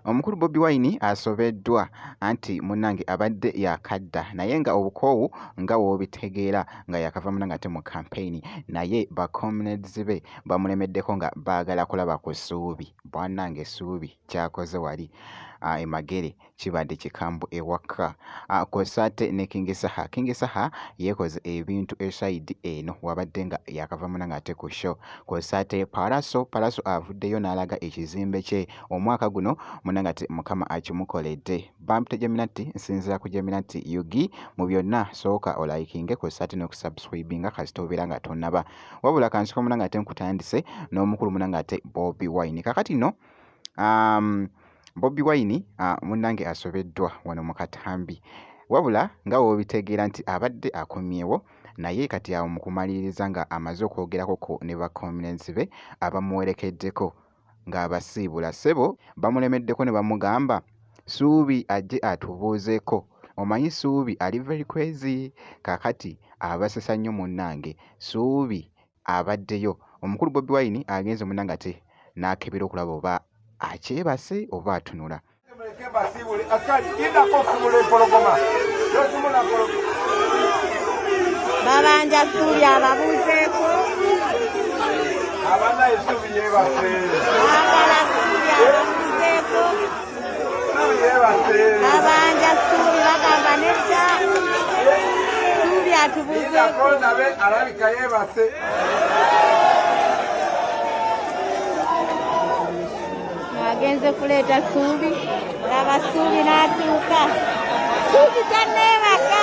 omukulu bobi wine asobeddwa anti munange abadde yakadda naye nga obukoowu nga wobitegeera nga yakava muna ngate mu kampeyini naye bacomrades be bamulemeddeko nga baagala kulaba ku suubi bwanange suubi kyakoze wali ah, emagere kibadde kikambu ewaka ah, kw'ossa ate ne Kingi Saha. Kingi Saha yeekoze ebintu esayidi eno wabadde nga yakava muna ng'ate ku show kw'ossa ate Palaso Palaso avuddeyo n'alaga ekizimbe kye omwaka guno muna nga ti Mukama akimukoledde. Bampita Geminati nsinzira ku Geminati Yugi mu byonna sooka olayikinge kw'ossa ate n'okusubscribinga kasita obeera nga tonnaba. Wabula kansiko muna ng'ate nkutandise n'omukulu muna ng'ate Bobi Wine. Kakati no um, Bobi Wine ah, munnange asobeddwa wano mu katambi wabula nga w'obitegeera nti abadde akomyewo naye kati awo mu kumaliriza nga amaze okwogerako ku ne bakomulenzi be abamuwerekeddeko ng'abasiibula ssebo bamulemeddeko ne bamugamba Suubi ajje atubuuzeeko omanyi Suubi ali very crazy kakati abasesa nnyo munnange Suubi abaddeyo. Omukulu Bobi Wine agenze mu Nangate n'akebera okulaba oba akyebase oba atunula. Babanja Ssuubi ababuuzeeko. Abana Ssuubi yeebase. Abana Ssuubi ababuuzeeko. abanja suubi bagamba nedda suubi atubuzeeko nabe alabika yeebase agenze kuleeta suubi laba suubi n'atuuka suubi tanneebaka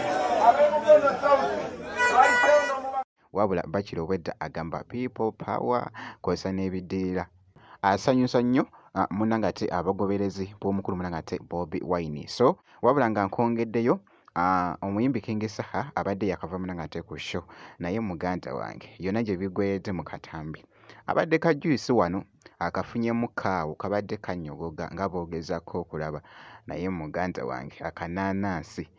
wabula bakira obwedda agamba people power kosa n'ebiddirira asanyusa nnyo ah, muna ngate abagoberezi b'omukulu muna ngate bobi wine so wabula nga nkwongeddeyo ah, omuyimbi kingi saha abadde yakava muna ngate ku show naye muganda wange yonna gye bigweredde mu katambi abadde ka juyisi wano akafunyemu kaawo kabadde kanyogoga nga boogezako okulaba naye muganda wange akanaanansi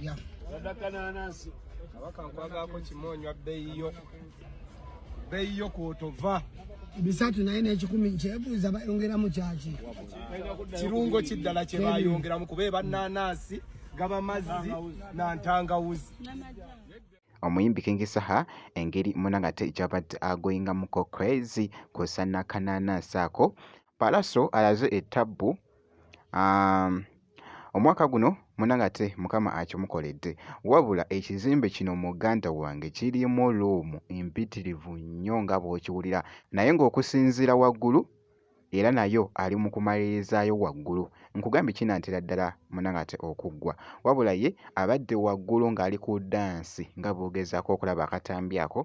ya sadaka nanansi kabaka nkwagaako kimu onywa bbeeyi yo bbeeyi yo kwotova bisatu naye n'ekikumi kyebuuza bayongeramu kyaki kirungo kiddala kye bayongeramu kuba eba nanansi gaba mazzi na ntangawuzi omuyimbi King Saha engeri munangate gy'abadde agoyingamuko crazy kw'ossa n'akanaanansi ako Pallaso alaze ettabbu um, Omwaka guno munange ate mukama akimukoledde wabula ekizimbe kino muganda wange kirimu luumu mpitirivu nnyo nga bw'okiwulira naye ng'okusinziira waggulu era nayo ali mu kumalirizaayo waggulu nkugambye kinantera ddala munange ate okuggwa wabula ye abadde waggulu ng'ali ku dansi nga bw'ogezaako okulaba akatambi ako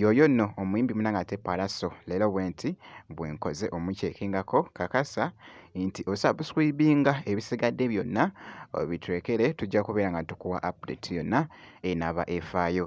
yoyo nno omuyimbi munange ate palaso leero bwenti bwenkoze omukyekingako kakasa nti osubscribinga ebisigadde byonna obitrekere tujja kubeera nga tukuwa update yonna enaba efaayo